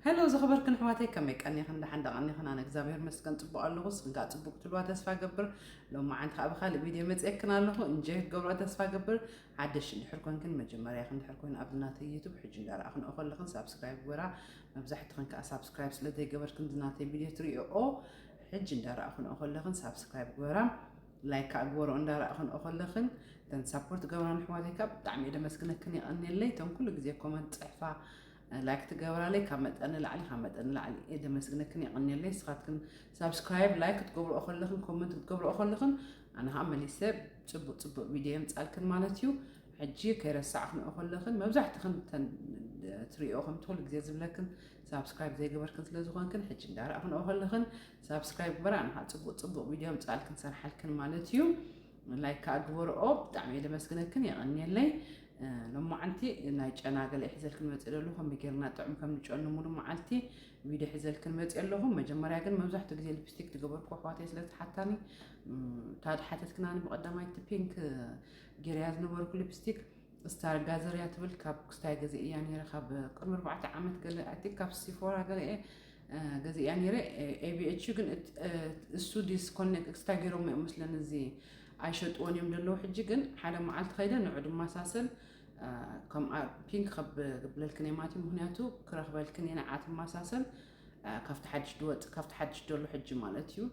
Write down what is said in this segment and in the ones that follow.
Hello ዝኸበርክን ኣሕዋተይ ከመይ ቀኒኽን ደሓን ዶ ቀኒኽን ኣነ እግዚኣብሔር ይመስገን ፅቡቕ ኣለኹ ንስኽን ከዓ ፅቡቕ ክትህልዋ ተስፋ ገብር ሎሚ መዓንቲ ከዓ ብካሊእ ቪድዮ መፅየክን ኣለኹ እንጆይ ክትገብርኦ ተስፋ ገብር ሓደሽ እንድሕር ኮንክን መጀመርያኽ እንድሕር ኮይኑ ኣብዚ ናተይ ዩቱብ ሕጂ እንዳረኣኽንኦ ከለኽን ሳብስክራይብ ግበራ መብዛሕትኽን ከዓ ሳብስክራይብ ስለ ዘይገበርክን እዚ ናተይ ቪድዮ ትሪኦኦ ሕጂ እንዳረኣኽንኦ ከለኽን ሳብስክራይብ ግበራ ላይክ ከዓ ግበርኦ እንዳረኣኽንኦ ከለኽን ተን ሳፖርት ገብራን ኣሕዋተይ ከዓ ብጣዕሚ እየ ደመስግነክን የቐንየለይ እቶም ኩሉ ግዜ ኮመንት ፅሕፋ ላይክ ትገብራለይ ካብ መጠን ንላዕሊ ካብ መጠን ንላዕሊ እየ ደመስግነክን የቐንየለይ ንስኻትክን ሳብስክራይብ ላይክ ክትገብርኦ ከለኽን ኮመንት ክትገብርኦ ከለኽን ኣነ ከዓ መሊሰ ፅቡቅ ፅቡቅ ቪድዮ የምፃልክን ማለት እዩ ሕጂ ከይረሳዕክንኦ ከለኽን መብዛሕትኽን ትሪኦ ከም ትኩሉ ግዜ ዝብለክን ሳብስክራይብ ዘይገበርክን ስለ ዝኾንክን ሕጂ እንዳረእኽንኦ ከለኽን ሳብስክራይብ ግበራ ኣነ ከዓ ፅቡቅ ፅቡቅ ቪድዮ ምፃልክን ሰርሓልክን ማለት እዩ ላይክ ከኣ ግበርኦ ብጣዕሚ እየ ለመስግነክን የቀንየለይ ሎማዓንቲ ናይ ጨና ገለ ሒዘልክን መፅእ ደሉ ከመይ ጌርና ጥዑም ከም ንጨኑ ሙሉ መዓልቲ ቪድዮ ሒዘልክን መፅእ ኣለኹ መጀመርያ ግን መብዛሕትኡ ግዜ ልፕስቲክ ዝገበርኩ ኣሕዋተይ ስለ ዝሓታኒ ታድ ሓተትክናኒ ብቀዳማይ እቲ ፒንክ ጌርያ ዝነበርኩ ልፕስቲክ ስታር ጋዘርያ ትብል ካብ ክስታይ ገዜ እያ ነይረ ካብ ቅድሚ ኣርባዕተ ዓመት ገለ ኣይ ቲንክ ካብ ሲፎራ ገለ እየ ገዚኣ ነይረ ኤቢኤች ግን እሱ ዲስኮኔክት ክስታይ ገይሮም እዮም ምስለን እዚ ኣይሸጥዎን እዮም ዘለዉ ሕጂ ግን ሓደ መዓልቲ ከይደ ንዑ ድማሳሰል ከምኣ ፒንክ ከብ ግብለልክን እየ ማለት እዩ ምክንያቱ ክረክበልክን እየ ንዓ ትማሳሰል ካብቲ ሓድሽ ድወፅ ካብቲ ሓድሽ ደሎ ሕጂ ማለት እዩ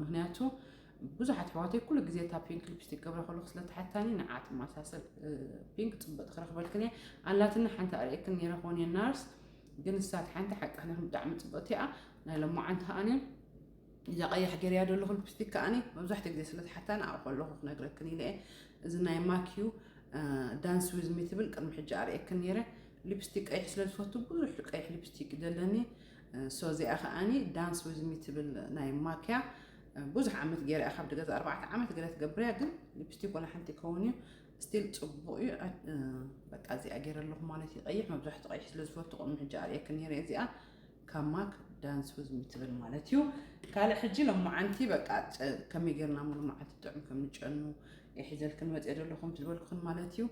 ምክንያቱ ብዙሓት ሕዋተይ ኩሉ ግዜ እታ ፒንክ ሊፕስቲክ ገብረ ከለኩ ስለተሓታኒ ንዓ ትማሳሰል ፒንክ ፅበጥ ክረክበልክን እየ ኣላትና ሓንቲ ኣርእክን ነይረ ኮን ናርስ ግን ንሳ ሓንቲ ሓቂ ክነግርኩም ብጣዕሚ ፅብቕቲ እያ ናይ ሎማዓንቲ ከዓኒ እዛ ቀያሕ ገርያ ዘለኹ ልፕስቲክ ከዓኒ መብዛሕትኡ ግዜ ስለ ዝሓታ ንዓኡ ከለኹ ክነግረክን ኢለ እዚ ናይ ማኪዩ ዳንስ ዊዝ ሚ ትብል ቅድሚ ሕጂ ኣርእየክን ነይረ ሊፕስቲክ ቀይሕ ስለ ዝፈቱ ብዙሕ ቀይሕ ሊፕስቲክ ዘለኒ ሶ እዚኣ ከዓኒ ዳንስ ዊዝ ሚ ትብል ናይ ማኪያ ብዙሕ ዓመት ገይረ ካብ ገዛ ኣርባዕተ ዓመት ገለ ትገብርያ ግን ሊፕስቲክ ወላ ሓንቲ ይከውን እዩ ስቲል ፅቡቅ እዩ በቃ እዚኣ ገይረ ኣለኹ ማለት እዩ ቀይሕ መብዛሕትኡ ቀይሕ ስለ ዝፈቱ ከምኡ ሕጂ ኣርእየክ ነይረ እዚኣ ካብ ማክ ዳንስ ውዝሚ ትብል ማለት እዩ ካልእ ሕጂ ሎማዓንቲ በቃ ከመይ ጌርና ሞ ሎማዓንቲ ጥዑም ከም ንጨኑ የሒዘልክን መፅኦ ዘለኹም ዝበልኩን ማለት እዩ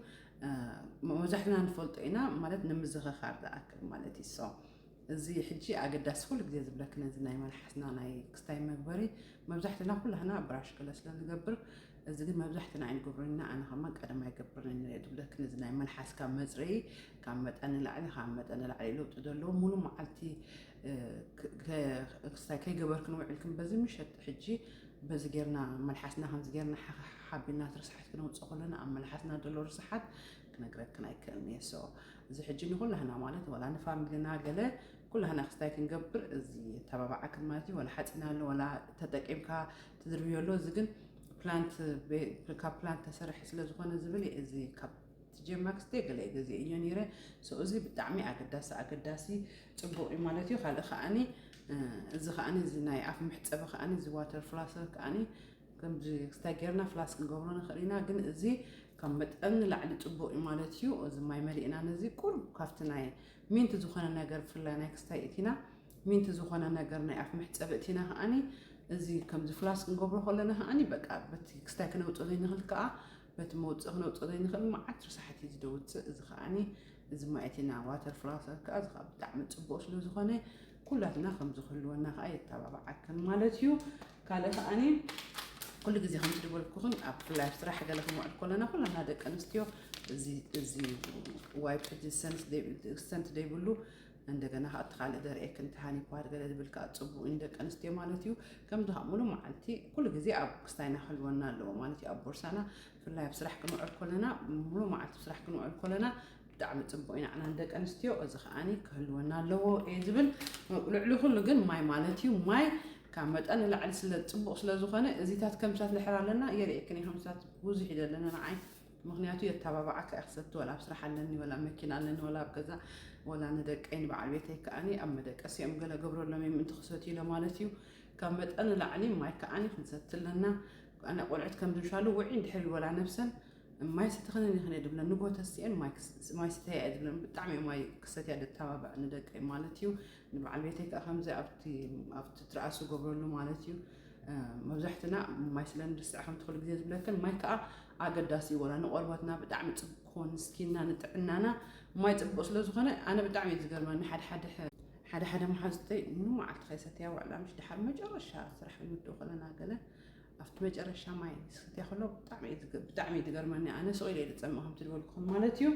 መብዛሕትና ንፈልጦ ኢና ማለት ንምዝኸኻር ዝኣክል ማለት እዩ ሶ እዚ ሕጂ ኣገዳሲ ኩሉ ግዜ ዝብለኪ ነዚ ናይ መልሓስና ናይ ክስታይ መግበሪ መብዛሕትና ኩላህና ብራሽ ገለ ስለ ንገብር እዚ ግን መብዛሕትና ኣይንገብሮን ኢና ኣነ ከማን ቀደም ኣይገብርን ንሪኦ ዝብለኪ ነዚ ናይ መልሓስካ መጽረዪ ካብ መጠን ንላዕሊ ካብ መጠን ንላዕሊ ለውጢ ዘለዎ ሙሉ መዓልቲ ክስታይ ከይገበርክ ንውዕልክን በዚ ምሸት ሕጂ በዚ ጌርና መልሓስና ከምዚ ጌርና ሓቢና እቲ ርስሓት ክነውፅእ ከሎና ኣብ መልሓስና ዘሎ ርስሓት ክነግረክን ኣይክእልን እየ ሶ እዚ ሕጂ ንኩላህና ማለት ወላ ንፋሚልና ገለ ኩላህና ክስታይ ክንገብር እዚ ተባባዓክን ማለት እዩ ወላ ሓፂን ኣሎ ወላ ተጠቂምካ ትዝርብዮ ኣሎ እዚ ግን ፕላንት ካብ ፕላንት ተሰርሐ ስለዝኾነ ዝብል እዚ ካብ ትጀማ ክስተ ገለ ገዜ እዮ ነይረ ሰው እዚ ብጣዕሚ ኣገዳሲ ኣገዳሲ ፅቡቅ እዩ ማለት እዩ ካልእ ከዓኒ እዚ ከዓኒ እዚ ናይ ኣፍ መሕፀቢ ከዓኒ እዚ ዋተር ፍላሰር ከዓኒ ከምዚ ክስታይ ጌርና ፍላስ ክንገብሮ ንኽእል ኢና፣ ግን እዚ ካብ መጠን ንላዕሊ ጽቡቕ እዩ ማለት እዩ። እዚ ማይ መሊእና ነዚ ቁሩብ ካብቲ ናይ ሚንት ዝኾነ ነገር ብፍላይ ናይ ክስታይ እቲና ሚንት ዝኾነ ነገር ናይ ኣፍ መሕጸቢ እቲና ከኣኒ እዚ ከምዚ ፍላስ ክንገብሮ ከለና ከኣኒ በቃ በቲ ክስታይ ክነውጽእ ዘይንኽእል ከኣ በቲ መውጽእ ክነውጽእ ዘይንኽእል መዓት ርሳሕት እዩ ዝደውጽእ እዚ ከኣኒ እዚ ማይ እቲና ዋተር ፍላሰር ከኣ እዚ ከኣ ብጣዕሚ ጽቡቕ ስለ ዝኾነ ኩላትና ከምዚ ክህልወና ከዓ የተባብዓክን ማለት እዩ ካልእ ከዓኒ ኩሉ ግዜ ከምዚ ዝበልኩኽን ኣብ ፍላይ ኣብ ስራሕ ገለ ክንውዕል ከለና ኩላና ደቂ ኣንስትዮ እዚ ዋይፕ ሕጂ ሰንት ዘይብሉ እንደገና ከዓ እቲ ካልእ ዘርእየክን ተሃኒ ፓድ ገለ ዝብል ከዓ ፅቡቅ እዩ ደቂ ኣንስትዮ ማለት እዩ ከምዚ ከዓ ሙሉ መዓልቲ ኩሉ ግዜ ኣብ ክስታይና ክህልወና ኣለዎ ማለት እዩ ኣብ ቦርሳና ብፍላይ ኣብ ስራሕ ክንውዕል ከለና ሙሉ መዓልቲ ስራሕ ክንውዕል ከለና ብጣዕሚ ጽቡቅ ናዕና ንደቂ ኣንስትዮ እዚ ከኣ ክህልወና ኣለዎ እየ ዝብል ልዕሊ ኩሉ ግን ማይ ማለት እዩ ማይ ካብ መጠን ንላዕሊ ስለ ጽቡቅ ስለ ዝኾነ እዚታት ከምሳት ንሕር ኣለና የርእየክን ከምሳት ብዙሕ እዩ ዘለና ንዓይ ምክንያቱ የተባባዓካ እያ ክሰቲ ወላ ኣብ ስራሕ ኣለኒ ወላ መኪና ኣለኒ ወላ ኣብ ገዛ ወላ ንደቀይ ንበዓል ቤተይ ከዓኒ ኣብ መደቀሲ እዮም ገለ ገብረሎም እዮም ምእንቲ ክሰት ኢለ ማለት እዩ ካብ መጠን ላዕሊ ማይ ከዓኒ ክንሰቲ ኣለና ኣነ ቆልዑት ከም ዝምሻሉ ውዒ እንድሕር ወላ ነብሰን ማይ ሰተኽንን ኢኽን እየ ድብለን ንግሆ ተሲኤን ማይ ስተያ እየ ዝብለን ብጣዕሚ እየ ማይ ክሰትያ ደተባብዕ ንደቀይ ማለት እዩ ንበዓል ቤተይ ከዓ ከምዚ ኣብቲ ትርኣሱ ገብረሉ ማለት እዩ መብዛሕትና ማይ ስለ ንርስዕ ከምቲ ኩሉ ግዜ ዝብለክን ማይ ከዓ ኣገዳሲ ይወላ ንቆርበትና ብጣዕሚ ፅቡቅ ክኾን ንስኪና ንጥዕናና ማይ ፅቡቅ ስለ ዝኾነ ኣነ ብጣዕሚ እዩ ዝገርመኒ ሓደ ሓደ ሓደ ሓደ መሓዝተይ ንመዓልቲ ከይሰተያ ውዕላ ምሽ ድሓር መጨረሻ ስራሕ ክንምድኡ ከለና ገለ ኣብቲ መጨረሻ ማይ ዝስትያ ከሎ ብጣዕሚ እዩ ዝገርመኒ ኣነ ስቕ ኢለ ዝፀምእ ከምቲ ዝበልኩኹም ማለት እዩ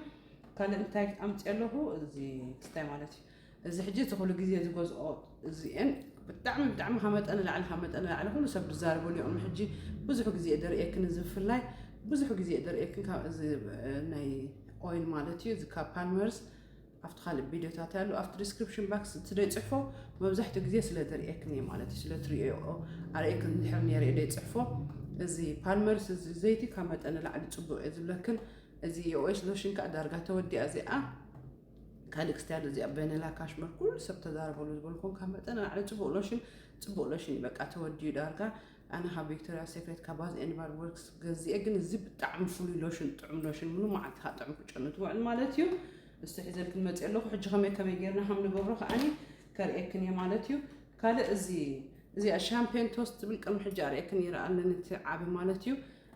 ካልእ እንታይ ኣምፅኦ ኣለኹ እዚ ክስታይ ማለት እዩ እዚ ሕጂ እቲ ኩሉ ግዜ ዝገዝኦ እዚአን ብጣዕሚ ብጣዕሚ ካብ መጠን ላዕሊ ካብ መጠን ላዕሊ ኩሉ ሰብ ዝዛረበሉ እዮም ሕጂ ብዙሕ ግዜ ደርእየክን እዚ ብፍላይ ብዙሕ ግዜ ደርእየክን ካብ እዚ ናይ ኦይል ማለት እዩ እዚ ካብ ፓልመርስ ኣብቲ ካልእ ቢድዮታተይ ኣሎ ኣብቲ ድስክርፕሽን ባክስ እቲ ደይጽሕፎ መብዛሕትኡ ግዜ ስለ ዝርእየክን እየ ማለት እዩ ስለ ትርእየኦ ኣርእየክን እንድሕር ነይረ ደይጽሕፎ እዚ ፓልመርስ እዚ ዘይቲ ካብ መጠን ንላዕሊ ጽቡቕ እየ ዝብለክን እዚ የኦኤስ ሎሽን ከዓ ዳርጋ ተወዲኣ እዚኣ ካልእ ክስትያዶ እዚኣ በነላ ካሽመር ኩሉ ሰብ ተዛረበሉ ዝበልኩም ካብ መጠን ንላዕሊ ጽቡቕ ሎሽን ጽቡቕ ሎሽን እዩ በቃ ተወዲኡ ዳርጋ ኣነ ካብ ቪክቶርያ ሴክሬት ካብ ባዝ ኤንድ ባዲ ወርክስ ገዚኤ ግን እዚ ብጣዕሚ ፍሉይ ሎሽን ጥዑም ሎሽን ምኑ መዓልቲ ካብ ጥዑም ክጨኑ ትውዕል ማለት እዩ እስቲ ሒዘልክን መፅእ ኣለኹ ሕጂ ከመይ ከመይ ጌርና ከም ንገብሮ ከዓኒ ከርእየክን እየ ማለት እዩ ካልእ እዚ እዚኣ ሻምፔን ቶስት ትብል ቅድሚ ሕጂ ኣርእየክን ይረ ኣለኒ እቲ ዓቢ ማለት እዩ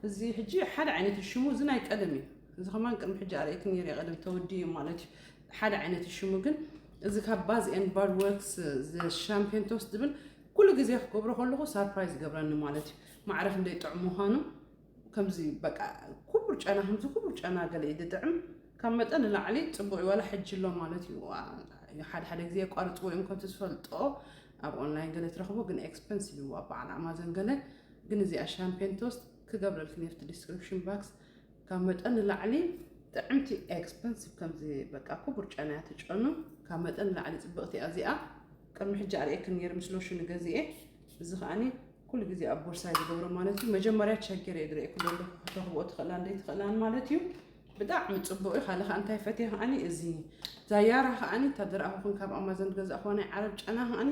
እዚ ሕጂ ሓደ ዓይነት ሽሙ እዚ ናይ ቀደም እዩ እዚ ከማን ቅድሚ ሕጂ ኣርእየክን ይረ ቀደም ተወዲ እዩ ማለት እዩ ሓደ ዓይነት ሽሙ ግን እዚ ካብ ባዝ ኤንድ ባድ ወርክስ ሻምፔን ቶስት ዝብል ኩሉ ግዜ ክገብሮ ከለኩ ሳርፕራይዝ ይገብረኒ ማለት እዩ ማዕረ ክንደይ ጥዑም ምዃኑ ከምዚ በቃ ኩቡር ጨና ከምዚ ኩቡር ጨና ገለ እዩ ዝጥዕም ካብ መጠን ንላዕሊ ፅቡቅ እዩ ዋላ ሕጂ ኣሎ ማለት እዩ ሓደ ሓደ ግዜ የቋርፅዎ እዮም ከምቲ ዝፈልጦ ኣብ ኦንላይን ገለ ትረኽቦ ግን ኤክስፐንሲቭ እዩ ኣብ በዓል ኣማዞን ገለ ግን እዚኣ ሻምፔን ቶስት ክገብረልክን የፍቲ ዲስክሪፕሽን ባክስ ካብ መጠን ንላዕሊ ጥዕምቲ ኤክስፐንሲቭ ከምዚ በቃ ኩቡር ጨና እያ ትጨኑ ካብ መጠን ንላዕሊ ጽብቕቲ እያ እዚኣ ቅድሚ ሕጂ ኣርእየክን ነይረ ምስ ሎሽኑ ገዚኤ እዚ ከዓኒ ኩሉ ግዜ ኣብ ቦርሳይ ዝገብሮ ማለት እዩ መጀመርያ ቸገር እየ ዝረኤ ኩሎ እንዶ ከተኽብኦ ትኽእላ እንደ ትኽእላን ማለት እዩ ብጣዕሚ ጽቡቕ እዩ ካልእ ከዓ እንታይ ፈትየ ከዓኒ እዚ ዛያራ ከዓኒ እታ ዝረኣኹክን ካብ ኣማዞን ዝገዛእኹዋ ናይ ዓረብ ጨና ከዓኒ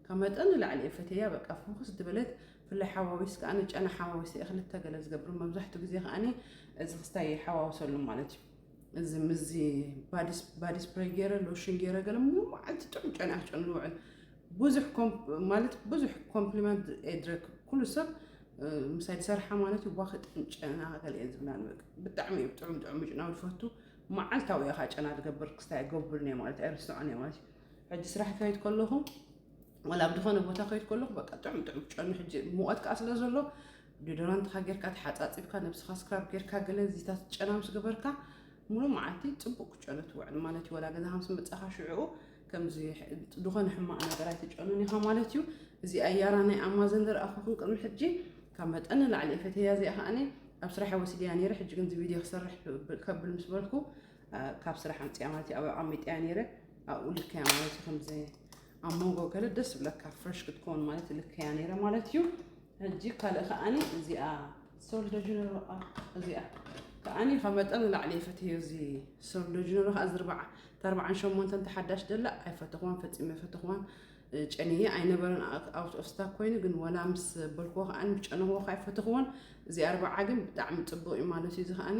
ካብ መጠን ንላዕሊ እየ ፈትየያ በቃ ፍኹስ ዝበለት ብፍላይ ሓዋዊስ ከኣ ጨና ሓዋዊስ እየ ክልተ ገለ ዝገብር መብዛሕትኡ ግዜ ከኣ እዚ ክስታይ ይሓዋውሰሉ ማለት እዩ እዚ ምዚ ባዲ ስፕሬይ ገይረ ሎሽን ገይረ ገለ መዓልቲ ጥዑም ጨና ክጨኑ ዝውዕል ብዙሕ ማለት ብዙሕ ኮምፕሊመንት ኤድረክ ኩሉ ሰብ ምሳይ ዝሰርሓ ማለት እዩ ዋክ ጥዑም ጨና ገለ እየ ዝብላ ብጣዕሚ እዩ ጥዑም ጥዑም ምጭናው ዝፈቱ መዓልታዊ እየ ከዓ ጨና ዝገብር ክስታይ ገብርን እየ ማለት ኣይርስዖን እየ ማለት እዩ ሕጂ ስራሕ ክኸይድ ከለኹ ወላ ኣብ ዝኾነ ቦታ ከይድ ከለኹ በቃ ጥዑም ጥዑም ጨኑ ሕጂ ሙቐት ከዓ ስለ ዘሎ ዲዶራንትካ ጌርካ ተሓፃፂብካ ነብስኻ ስክራብ ጌርካ ገለ እዚታት ጨና ምስ ገበርካ ሙሉእ መዓልቲ ፅቡቅ ክጨኑ ትውዕል ማለት እዩ ወላ ገዛ ከምስ መፃኻ ሽዕኡ ከምዚ ዝኾነ ሕማቕ ነገር ኣይትጨኑን ኢኻ ማለት እዩ እዚ ኣያራ ናይ ኣማዘን ዝረኣኹኹን ቅድሚ ሕጂ ካብ መጠን ንላዕሊ ፈተያ እዚኣ ከዓኒ ኣብ ስራሕ ወሲድያ ነይረ ሕጂ ግን እዚ ቪድዮ ክሰርሕ ከብል ምስ በልኩ ካብ ስራሕ ኣምፅያ ማለት እዩ ኣብ ዓሚጥያ ነይረ ኣብኡ ልከያ ማለት እዩ ከምዚ ኣብ መንጎ ገለ ደስ ዝብለካ ፍረሽ ክትከውን ማለት ልከያ ነይረ ማለት እዩ ሕጂ ካልእ ከዓኒ እዚኣ ሶልደጅነሮ እዚኣ ከዓኒ ካብ መጠን ንላዕሊ ይፈትዮ እዚ ሶልደጅነሮ ከዓ ዝርባዓ ተርባዓን ሸሞንተን ተሓዳሽ ደላ ኣይፈተኹዋን ፈፂመ ፈተኹዋን ጨንየ ኣይነበረን ኣውት ኦፍ ስታክ ኮይኑ ግን ወላ ምስ በልክዎ ከዓኒ ጨንኽዎ ከዓ ኣይፈተኽዎን እዚ ኣርባዓ ግን ብጣዕሚ ፅቡቅ እዩ ማለት እዩ እዚ ከዓኒ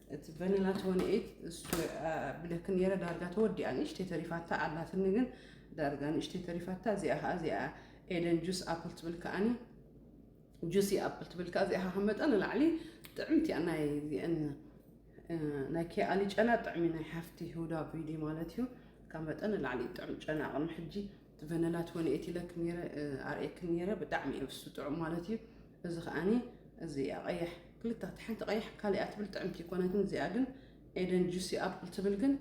እቲ ቨኒላ ትወኒ ኤይት እሱ ብለክ ነረ ዳርጋ ተወዲኣ ንእሽተይ ተሪፋታ ኣላትኒ ግን ዳርጋ ንእሽተይ ተሪፋታ እዚኣ ከዓ እዚኣ ኤደን ጁስ ኣፕል ትብል ከዓኒ ጁሲ ኣፕል ትብል ከዓ እዚኣ ካብ መጠን ንላዕሊ ጥዕምቲ እያ ናይ ዚአን ናይ ኬኣሊ ጨና ጥዕሚ ናይ ሓፍቲ ሁዳ ቪዲ ማለት እዩ ካብ መጠን ንላዕሊ ጥዕም ጨና ቅድሚ ሕጂ ቨነላት ወን ኤቲለክም ነይረ ኣርእየክም ነይረ ብጣዕሚ እዩ እሱ ጥዑም ማለት እዩ እዚ ከዓኒ እዚ እያ ቀያሕ ክልተ ሓንቲ ቀያሕ ካሊኣ ትብል ጥዕምቲ ይኮነትን እዚኣ ግን ኤደን ጁሲ ኣፕል ትብል ግን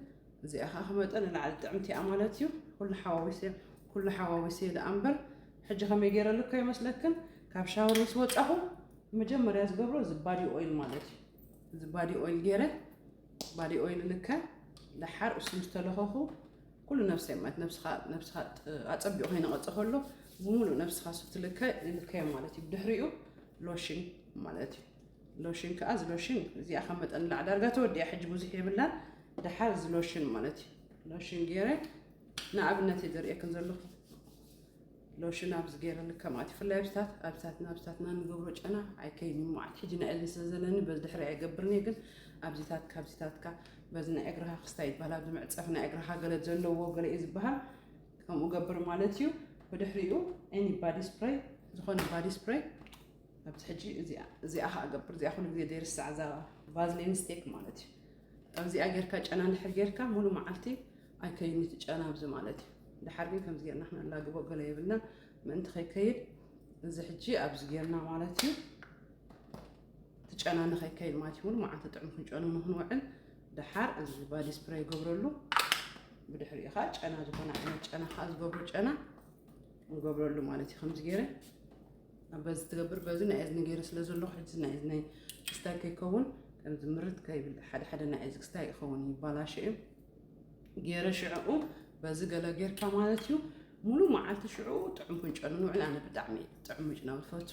እዚኣ ከዓ ከመጠን ንላዕሊ ጥዕምቲ እያ ማለት እዩ ኩሉ ሓዋዊሰ ኩሉ ሓዋዊሰ ደኣ እምበር ሕጂ ከመይ ገይረ ልኮ ይመስለክን ካብ ሻወር ምስ ወፃኹ መጀመርያ ዝገብሮ እዚ ባዲ ኦይል ማለት እዩ እዚ ባዲ ኦይል ገይረ ባዲ ኦይል ልከ ደሓር እሱ ምስ ተለኸኹ ኩሉ ነፍሰይ ማለት ነብስኻ ነብስኻ ኣጸቢቑ ከይነቐጸ ከሎ ብምሉእ ነብስኻ ስብትልከ ይልከዮ ማለት እዩ ድሕሪኡ ሎሽን ማለት እዩ ሎሽን ከዓ እዚ ሎሽን እዚኣ ካብ መጠን ንላዕ ዳርጋ ተወዲያ ሕጂ ብዙሕ የብላን ድሓር እዚ ሎሽን ማለት እዩ ሎሽን ገይረ ንኣብነት እየ ዘርእየክን ዘለኹ ሎሽን ኣብዚ ገይረልክ ከምኣ ትፍላይ ኣብስታት ኣብስታትና ኣብስታትና ንገብሮ ጨና ኣይከይን መዓት ሕጂ ናይ እዝኒ ስለ ዘለኒ በዚ ድሕሪ ኣይገብርን እየ ግን ኣብዚታት ካብዚታትካ በዚ ናይ እግርኻ ክስታይ ይበሃል ኣብዚ መዕፀፊ ናይ እግርኻ ገለ ዘለዎ ገለ እዩ ዝበሃል ከምኡ ገብር ማለት እዩ ብድሕሪኡ ኤኒ ባዲ ስፕሬይ ዝኾነ ባዲ ስፕሬይ ኣብዚ ሕጂ እዚኣ ከዓ ገብር እዚኣ ኩሉ ግዜ ዘይርስዕ እዛ ቫዝሊን ስቴክ ማለት እዩ ኣብዚኣ ጌርካ ጨና እንድሕር ጌርካ ሙሉ መዓልቲ ኣይከይድን እቲ ጨና ኣብዚ ማለት እዩ። ደሓር ግን ከምዚ ጌርና ክነላግቦ ገለ የብልና ምእንቲ ከይከይድ እዚ ሕጂ ኣብዚ ጌርና ማለት እዩ እቲ ጨና ንኸይከይድ ማለት እዩ ሙሉ መዓልቲ ጥዑም ክንጨኑ ንክንውዕል ደሓር እዚ ባዲ ስፕሬይ ይገብረሉ ብድሕሪኡ ከዓ ጨና ዝኾነ ዓይነት ጨና ከዓ ዝገብሮ ጨና ንገብረሉ ማለት እዩ ከምዚ ገይረ ኣብ በዚ ትገብር በዚ ናይ እዝኒ ገይረ ስለ ዘለኹ ሕዚ ናይ እዝኒ ክስታይ ከይከውን ከምዚ ምርት ከይብል ሓደ ሓደ ናይ እዚ ክስታይ ይኸውን ይባላሸ እዩ ጌረ ሽዕኡ በዚ ገለ ጌርካ ማለት እዩ ሙሉ መዓልቲ ሽዕኡ ጥዑም ክንጨኑ ንውዕል ኣነ ብጣዕሚ ጥዑም ምጭና ዝፈቱ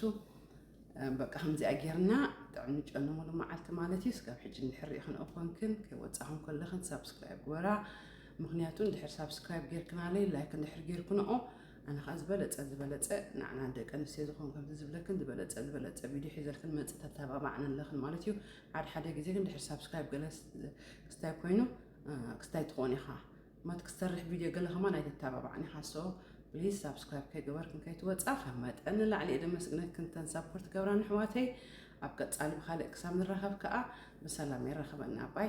በቃ ከምዚኣ ጌርና ጥዕም ንጨነሙሉ መዓልቲ ማለት እዩ ስጋብ ሕጂ ንድሕር ሪኢኽን እኮንክን ከይወፃኹን ከለኽን ሳብስክራይብ ግበራ ምክንያቱ እንድሕር ሳብስክራይብ ጌርክናለይ ላይክ እንድሕር ጌርክንኦ ኣነ ከዓ ዝበለፀ ዝበለፀ ንዓና ደቂ ኣንስትዮ ዝኾን ከምዚ ዝብለክን ዝበለፀ ዝበለፀ ቪድዮ ሒዘልክን መፅእ ተተባባዕኒ ኣለኽን ማለት እዩ ሓደ ሓደ ግዜ ግን ድሕሪ ሳብስክራይብ ገለ ክስታይ ኮይኑ ክስታይ ትኾን ኢኻ ማት ክሰርሕ ቪድዮ ገለ ከማን ኣይትተባባዕን ኢኻ ሶ ፕሊዝ ሳብስክራይብ ከይገበርክን ከይትወፃ ካብ መጠን ንላዕሊ እየ ደመስግነክን ተን ሳፖርት ገብራ ንሕዋተይ ኣብ ቀፃሊ ብካልእ ክሳብ ንራኸብ ከዓ ብሰላም የራኸበና ባይ